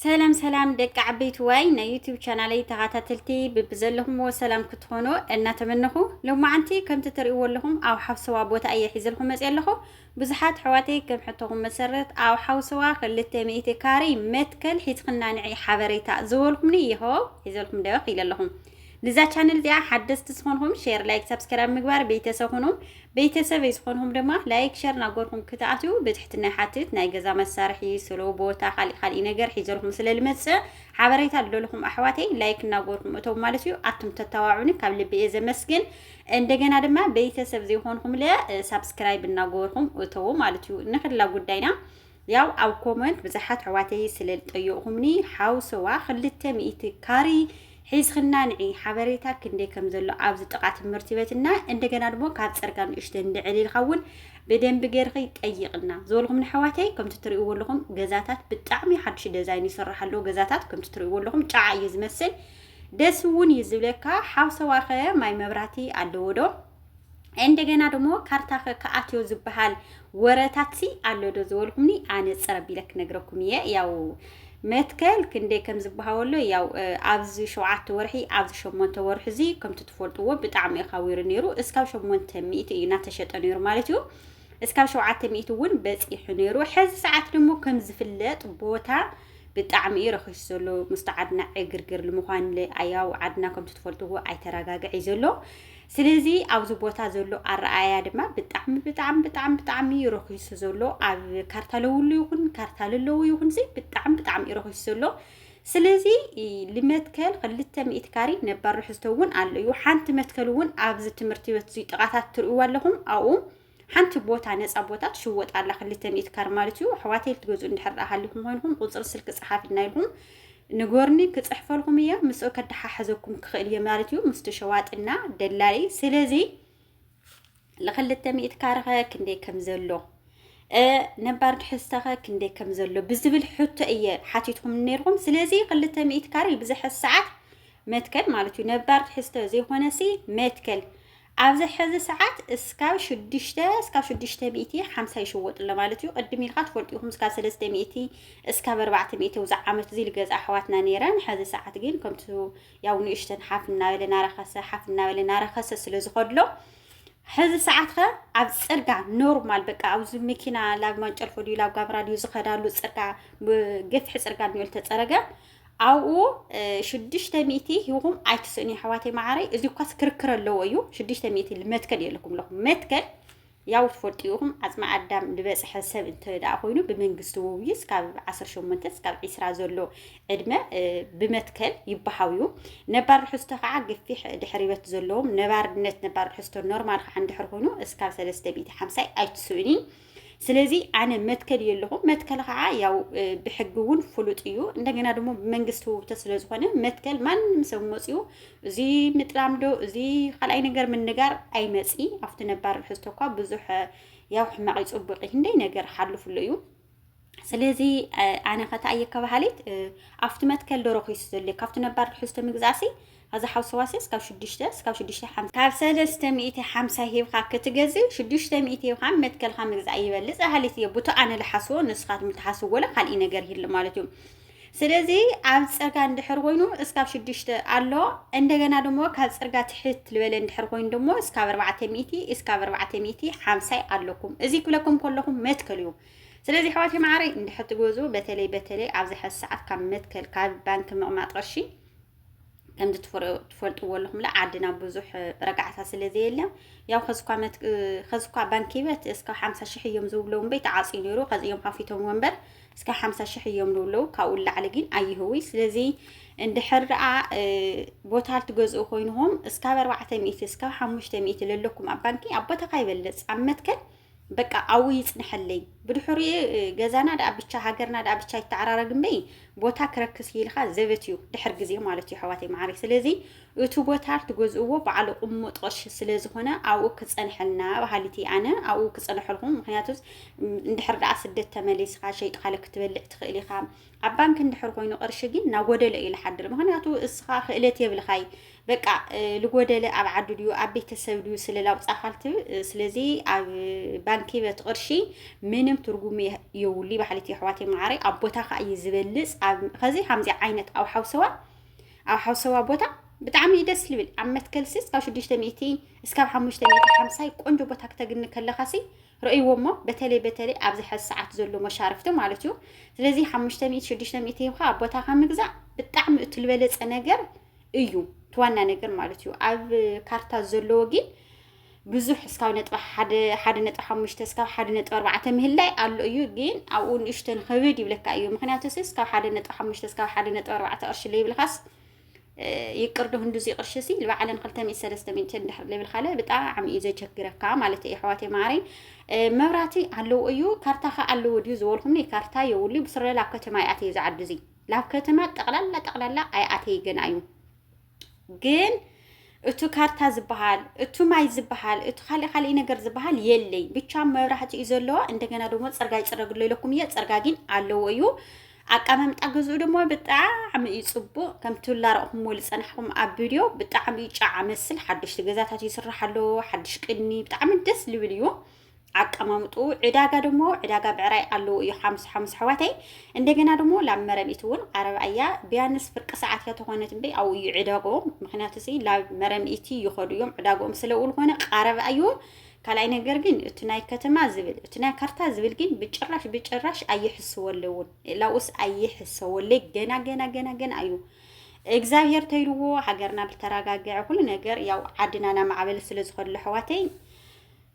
ሰላም ሰላም ደቂ ዓበይትዋይ ናይ ዩቲዩብ ቻናለይ ተኸታተልቲ ብብዘለኹምዎ ሰላም ክትኾኑ እናተመነኹ ሎማዓንቲ ከምቲ ትርእይዎ ኣለኹም ኣብ ሓውሰዋ ቦታ እየ ሒዘልኹም መፅየ ኣለኹ ብዙሓት ሕዋተይ ከም ሕቶኹም መሰረት ኣብ ሓውሰዋ ክልተ ሚእቲ ካሪ መትከል ሒዝኽና ንዒ ሓበሬታ ዝበልኩምኒ ይሆ ሒዘልኩም ደበኽ ኢለ ኣለኹም ንዛ ቻነል እዚኣ ሓደስቲ ዝኾንኹም ሼር ላይክ ሳብስክራይብ ምግባር ቤተሰብ ኹኑ ቤተሰበይ ዝኾንኹም ድማ ላይክ ሸር ናጎርኩም ክትኣትው ብትሕትና ይሓትት ናይ ገዛ መሳርሒ ስሎ ቦታ ካሊእ ካሊእ ነገር ሒዘልኩም ስለ ልመጽእ ሓበሬታ ልደለኹም ኣሕዋተይ ላይክ እናጎርኩም እቶም ማለት እዩ ኣቱም ተተባብዑኒ ካብ ልቢ እየ ዘመስግን እንደገና ድማ ቤተሰብ ዘይኾንኩም ለ ሳብስክራይብ እናጎርኩም እተው ማለት እዩ ንክላ ጉዳይና ያው ኣብ ኮመንት ብዝሓት ኣሕዋተይ ስለ ልጠየቅኹምኒ ሓውሰዋ ክልተ ሚእቲ ካሪ ሒዝክና ንዒ ሓበሬታ ክንደይ ከም ዘሎ ኣብዚ ጥቃ ትምህርቲ በትና እንደገና ድሞ ካብ ፀርጋ ንእሽተ እንድዕል ኢልካ እውን ብደንቢ ገርኺ ጠይቅና ዝበልኹም ንሕዋተይ ከምቲ ትሪእዎ ኣለኹም ገዛታት ብጣዕሚ ሓዱሽ ደዛይን ይስራሕ ኣሎ ገዛታት ከምቲ ትሪእዎ ኣለኹም ጫዓ እዩ ዝመስል ደስ እውን እዩ ዝብለካ ሓውሰዋኸ ማይ መብራህቲ ኣለዎ ዶ እንደገና ደሞ ካርታ ከኣትዮ ዝበሃል ወረታት ሲ ኣሎ ዶ ዝበልኩምኒ ኣነ ፀረ ቢለ ክነግረኩም እየ ያው መትከል ክንደይ ከም ዝበሃወሎ ያው ኣብዚ ሸውዓተ ወርሒ ኣብዚ ሸሞንተ ወርሒ እዚ ከምቲ ትፈልጥዎ ብጣዕሚ እዩ ካዊሩ ነይሩ እስካብ ሸሞንተ ሚእቲ እዩ እናተሸጠ ነይሩ ማለት እዩ እስካብ ሸውዓተ ሚእቲ እውን በፂሑ ነይሩ ሕዚ ሰዓት ደሞ ከም ዝፍለጥ ቦታ ብጣዕሚ እዩ ረኺሱ ዘሎ ምስቲ ዓድና ዕግርግር ንምኳን ኣያው ዓድና ከምቲ ትፈልጥዎ ኣይተረጋግዐ እዩ ዘሎ ስለዚ ኣብዚ ቦታ ዘሎ ኣረኣእያ ድማ ብጣዕሚ ብጣዕሚ ብጣዕሚ ብጣዕሚ እዩ ረኪሱ ዘሎ ኣብ ካርታ ለውሉ ይኹን ካርታ ለለዉ ይኹን ሲ ብጣዕሚ ብጣዕሚ እዩ ረኪሱ ዘሎ ስለዚ ልመትከል ክልተ ሚእቲ ካሪ ነባር ርሕዝቶ እውን ኣሎ እዩ ሓንቲ መትከል እውን ኣብዚ ትምህርቲ ቤት እዚ ጥቓታት ትርእይዎ ኣለኹም ኣብኡ ሓንቲ ቦታ ነፃ ቦታ ትሽወጥ ኣላ ክልተ ሚእቲ ካር ማለት እዩ ኣሕዋተይ ልትገዝኡ እንድሕር ደኣ ሃሊኹም ኮይንኩም ቁፅሪ ስልኪ ፀሓፊልና ኢልኩም ንጎርኒ ክፅሕፈልኩም እየ ምስኡ ከደሓሕዘኩም ክኽእል እየ ማለት እዩ ምስ ተሸዋጥና ደላሊ ስለዚ ልክልተ ሚእቲ ካርኸ ክንደይ ከም ዘሎ ነባር ትሕዝተኸ ክንደይ ከም ዘሎ ብዝብል ሕቶ እየ ሓቲትኩም ነርኩም ስለዚ ክልተ ሚእቲ ካሬ ብዝሐ ሰዓት መትከል ማለት እዩ ነባር ትሕዝተ ዘይኮነሲ መትከል ኣብዚ ሕዚ ሰዓት እስካብ ሽዱሽተ እስካብ ሽዱሽተ ሚእቲ ሓምሳ ይሽወጥ ኣሎ ማለት እዩ። ቅድም ኢልካ ትፈልጡ ኢኹም እስካብ ሰለስተ ሚእቲ እስካብ ኣርባዕተ ሚእቲ ኣብዚ ዓመት እዚ ልገዛ ኣሕዋትና ነይረን። ሕዚ ሰዓት ግን ከምቲ ያው ንእሽተን ሓፍ እናበለ ናረኸሰ ሓፍ እናበለ ናረኸሰ ስለ ዝኸድሎ ሕዚ ሰዓት ከ ኣብ ፅርጋ ኖርማል በቃ ኣብዚ መኪና ላብ ማንጨልፎ ድዩ ላብ ጋምራ ድዩ ዝኸዳሉ ፅርጋ ገፍሒ ፅርጋ ድዩ ዝተፀረገ ኣብኡ ሽዱሽተ ሚእቲ ሂኹም ኣይትስእኑ ኣሕዋተይ መዓረይ እዚ እኳስ ክርክር ኣለዎ እዩ ሽዱሽተ ሚእቲ መትከል የለኩም ኣለኹም መትከል ያው ትፈልጡ ኢኹም ዓፅሚ ኣዳም ዝበፅሐ ሰብ እንተ ደኣ ኮይኑ ብመንግስቲ ውውይስ ካብ 18 ስካብ 20 ዘሎ ዕድመ ብመትከል ይበሃው እዩ ነባር ርሕዝቶ ከዓ ግፊሕ ድሕሪ በት ዘለዎም ነባርነት ነባር ርሕዝቶ ኖርማል ከዓ እንድሕር ኮይኑ እስካብ 350 ኣይትስእኒ ስለዚ ኣነ መትከል እዩ ኣለኹ መትከል ከዓ ያው ብሕጊ እውን ፍሉጥ እዩ እንደገና ደግሞ ብመንግስቲ ውብተ ስለዝኾነ መትከል ማንም ሰብ መፅኡ እዚ ምጥላምዶ እዚ ካልኣይ ነገር ምንጋር ኣይመፂ ኣብቲ ነባር ሕዝቶ እኳ ብዙሕ ያው ሕማቕ ይፅቡቕ ክንደይ ነገር ሓልፍሉ እዩ ስለዚ ኣነ ከታ እየ ከባሃሊት ኣብቲ መትከል ዶሮ ኮይሱ ዘሎ ካብቲ ነባር ትሕዝቶ ምግዛእሲ ኣዛ ሓውሰዋሲ እስካብ ሽዱሽተ እስካብ ሽዱሽተ ሓምሳ ካብ ሰለስተ ሚእቲ ሓምሳ ሂብካ ክትገዝእ ሽዱሽተ ሚእቲ ሂብካ መትከልካ ምግዛእ ይበልፅ ሃሊት እየ ቡቲ ኣነ ልሓስቦ ንስኻትኩም ትሓስቡ ወላ ካልእ ነገር ይህሉ ማለት እዩ ስለዚ ኣብ ፅርጋ እንድሕር ኮይኑ እስካብ ሽዱሽተ ኣሎ እንደገና ደሞ ካብ ፅርጋ ትሕት ልበለ እንድሕር ኮይኑ ደሞ እስካብ ኣርባዕተ ሚእቲ እስካብ ኣርባዕተ ሚእቲ ሓምሳይ ኣለኩም እዚ ክብለኩም ከለኹም መትከል እዩ ስለዚ ኣሕዋተይ መዓረይ እንድሕር ትገዝኡ በተለይ በተለይ ኣብዚ ሕዚ ሰዓት ካብ መትከል ካብ ባንኪ ምቕማጥ ቅርሺ ከምዚ ትፈልጥዎ ኣለኹም ላ ዓድና ብዙሕ ረጋዕታ ስለ ዘየለ ያው ከዝኳ ባንኪ በት እስካ ሓምሳ ሽሕ እዮም ዝብለው እምበይ ተዓፅዩ ነይሩ ከዚ እዮም ሃፊቶም ወንበር እስካ ሓምሳ ሽሕ እዮም ንብለው ካብኡ ላዕሊ ግን ኣይህውይ ስለዚ እንድሕር ደኣ ቦታ ትገዝኡ ኮይንኹም እስካብ ኣርባዕተ ሚእቲ እስካብ ሓሙሽተ ሚእቲ ለለኩም ኣብ ባንኪ ኣብ ቦታካ ይበልፅ ኣብ መትከል በቃ ኣዊ ይጽንሐለይ ብድሕሪ ገዛና ደኣ ብቻ ሃገርና ደኣ ብቻ ይተዓራረግ እምበይ ቦታ ክረክስ ይልካ ዘበት እዩ ድሕር ግዜ ማለት እዩ ኣሕዋተይ መዓሪ ስለዚ እቲ ቦታ ትገዝእዎ በዓሉ ቁሙጥ ቅርሺ ስለ ዝኾነ ኣብኡ ክጸንሐልና በሃሊት ኣነ ኣብኡ ክጸንሐልኩም ምክንያቱስ እንድሕር ደኣ ስደት ተመሊስካ ሸይጥካ ክትበልዕ ትኽእል ኢኻ ኣብ ባንኪ እንድሕር ኮይኑ ቅርሺ ግን ናጎደለ እዩ ልሓድር ምክንያቱ እስኻ ክእለት የብልኻይ በቃ ልጎደለ ኣብ ዓዱ ድዩ ኣብ ቤተሰብ ድዩ ስለ ላውፃኻ ልትብ ስለዚ ኣብ ባንኪ በት ቅርሺ ምንም ትርጉም የውሉ ባሕልት የሕዋት የመዓረይ ኣብ ቦታኻ እዩ ዝበልፅ ከዚ ከምዚ ዓይነት ኣብ ሓውሰዋ ኣብ ሓውሰዋ ቦታ ብጣዕሚ እዩ ደስ ልብል ኣብ መትከልሲ እስካብ ሽዱሽተ ሚእቲ እስካብ ሓሙሽተ ሚእቲ ሓምሳይ ቆንጆ ቦታ ክተግኒ ከለኻሲ ረእይዎ እሞ በተለይ በተለይ ኣብዚ ሐዚ ሰዓት ዘሎ መሻርፍቲ ማለት እዩ ስለዚ ሓሙሽተ ሚእቲ ሽዱሽተ ሚእቲ ሂብካ ኣብ ቦታካ ምግዛእ ብጣዕሚ እቲ ዝበለፀ ነገር እዩ እቲ ዋና ነገር ማለት እዩ ኣብ ካርታ ዘለዎ ግን ብዙሕ እስካብ ነጥቢ ሓደ ሓደ ነጥቢ ሓሙሽተ እስካብ ሓደ ነጥቢ ኣርባዕተ ምህላይ ኣሎ እዩ ግን ኣብኡ ንእሽተን ክብድ ይብለካ እዩ ምክንያቱ ስ እስካብ ሓደ ነጥቢ ሓሙሽተ እስካብ ሓደ ነጥቢ ኣርባዕተ ቅርሺ ለይብልካስ ይቅር ዶ ህንዱዚ ቅርሽሲ በዓለን ክልተ ሚእቲ ሰለስተ ሚእቲ እንድሕር ልብል ካለ ብጣዕሚ እዩ ዘቸግረካ ማለት እዩ ኣሕዋተይ ማዕረይ መብራቲ ኣለዎ እዩ ካርታኻ ኣለዎ ድዩ ዝበልኩምኒ ካርታ የብሉ ብስረ ላብ ከተማ ይኣተየ ዝዓዱ እዚ ላብ ከተማ ጠቕላላ ጠቕላላ ኣይኣተይ ገና እዩ ግን እቱ ካርታ ዝበሃል እቱ ማይ ዝበሃል እቱ ካሊእ ካሊእ ነገር ዝበሃል የለይ ብቻ መብራህቲ እዩ ዘለዋ እንደገና ደሞ ፀርጋ ይፅረግሎ ኢለኩም እየ ፀርጋ ግን ኣለዎ እዩ ኣቀማምጣ ገዝኡ ድማ ብጣዕሚ እዩ ፅቡቅ ከምቲ ላረእኹምዎ ዝፀናሕኩም ኣብ ቪድዮ ብጣዕሚ እዩ ጫዓ መስል ሓደሽቲ ገዛታት ይስራሕ ኣሎ ሓድሽ ቅድሚ ብጣዕሚ ደስ ዝብል እዩ ኣቀማምጡ ዕዳጋ ደሞ ዕዳጋ ብዕራይ ኣለዉ እዩ ሓሙስ ሓሙስ ኣሕዋተይ እንደገና ደሞ ላብ መረሚት እውን ዓረብ ኣያ ቢያንስ ፍርቂ ሰዓት እያ ተኾነት እምበይ ኣብኡ እዩ ዕዳጎም ምክንያቱ ሲ ላብ መረሚእቲ ይኸዱ እዮም ዕዳጎም ስለኡ ዝኾነ ቃረብ ኣዩ ካልኣይ ነገር ግን እቲ ናይ ከተማ ዝብል እቲ ናይ ካርታ ዝብል ግን ብጭራሽ ብጭራሽ ኣይሕስወለውን ላውስ ኣይሕሰወለይ ገና ገና ገና ገና እዩ እግዚኣብሄር ተይልዎ ሃገርና ብልተረጋገዐ ኩሉ ነገር ያው ዓድና ናማዕበለ ስለ ዝኸሉ ኣሕዋተይ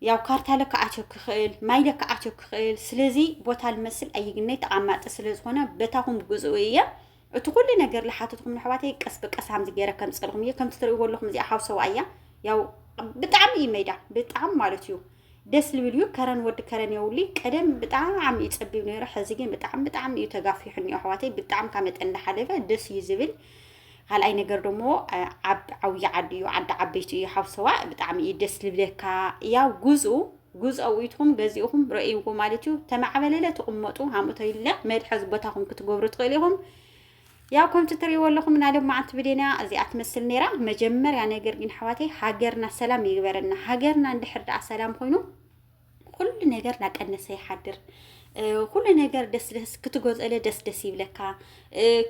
ያው ካርታ ለክዓቸው ክኽእል ማይ ለክዓቸው ክኽእል ስለዚ ቦታ ልመስል ኣይግነይ ተቓማጢ ስለ ዝኾነ በታኹም ግዝኡ እየ እቲ ኩሉ ነገር ልሓትትኩም ንሕዋተይ ቀስ ብቀስ ሃምዚ ገይረ ከምፅልኹም እየ ከምቲ ትርእይዎ ኣለኹም እዚኣ ሓውሰዋ እያ ያው ብጣዕሚ እዩ ሜዳ ብጣዕሚ ማለት እዩ ደስ ልብል እዩ ከረን ወዲ ከረን የውሊ ቀደም ብጣዕሚ እዩ ፀቢብ ነይሩ ሕዚ ግን ብጣዕሚ ብጣዕሚ እዩ ተጋፊሑ እኒኦ ኣሕዋተይ ብጣዕሚ ካብ መጠን እንዳሓለፈ ደስ እዩ ዝብል ካልኣይ ነገር ደሞ ዓብዪ ዓዲ እዩ ዓዲ ዓበይቲ እዩ ሓውሰዋ ብጣዕሚ እዩ ደስ ልብለካ ያው ጉዝኡ ጉዝኦ ኢትኹም ገዚእኹም ረእይዎ ማለት እዩ ተማዕበለለ ትቕመጡ ሃምእቶ ይለ መድሐዚ ቦታኹም ክትገብሩ ትኽእል ኢኹም ያው ከምቲ ትሪእዎ ኣለኹም ናይ ሎማዓንቲ ብዴንያ እዚኣ ትመስል ነይራ መጀመርያ ነገር ግን ኣሕዋተይ ሃገርና ሰላም ይግበረና ሃገርና እንድሕር ደኣ ሰላም ኮይኑ ኩሉ ነገር ናቀነሰ ይሓድር ኩሉ ነገር ደስ ደስ ክትገዝኦለ ደስ ደስ ይብለካ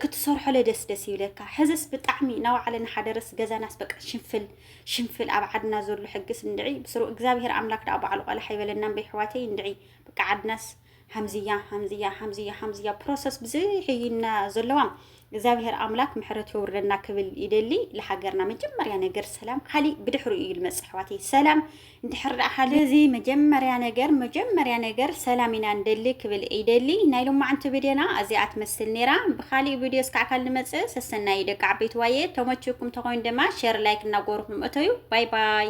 ክትሰርሖለ ደስ ደስ ይብለካ ሕዝስ ብጣዕሚ ናባዕለና ሓደረስ ገዛናስ በቃ ሽንፍል ሽንፍል ኣብ ዓድና ዘሎ ሕግስ እንድዒ ብስሩ እግዚኣብሄር ኣምላክ ደኣ ባዕሉ ቆላሕ ይበለና እምበይ ሕዋተይ እንድዒ በቃ ዓድናስ ሓምዝያ ሓምዝያ ሓምዝያ ሓምዝያ ፕሮሰስ ብዙሕ እዩና ዘለዋ እግዚኣብሔር ኣምላክ ምሕረት የውርደና ክብል ይደሊ ንሃገርና መጀመርያ ነገር ሰላም ካሊእ ብድሕሪ እዩ ልመፅ ኣሕዋተይ ሰላም እንድሕር ደኣ ሓሊ እዚ መጀመርያ ነገር መጀመርያ ነገር ሰላም ኢና ንደሊ ክብል ይደሊ ናይ ሎማዓንቲ ቪድዮና እዚኣ ትመስል ነይራ ብካሊእ ቪድዮ ስካዕካል ንመፅእ ሰሰናይ ደቂ ዓበይቲ ዋየ ተመችኩም ተኮይኑ ድማ ሸር ላይክ እናጎርኩም እተዩ ባይ ባይ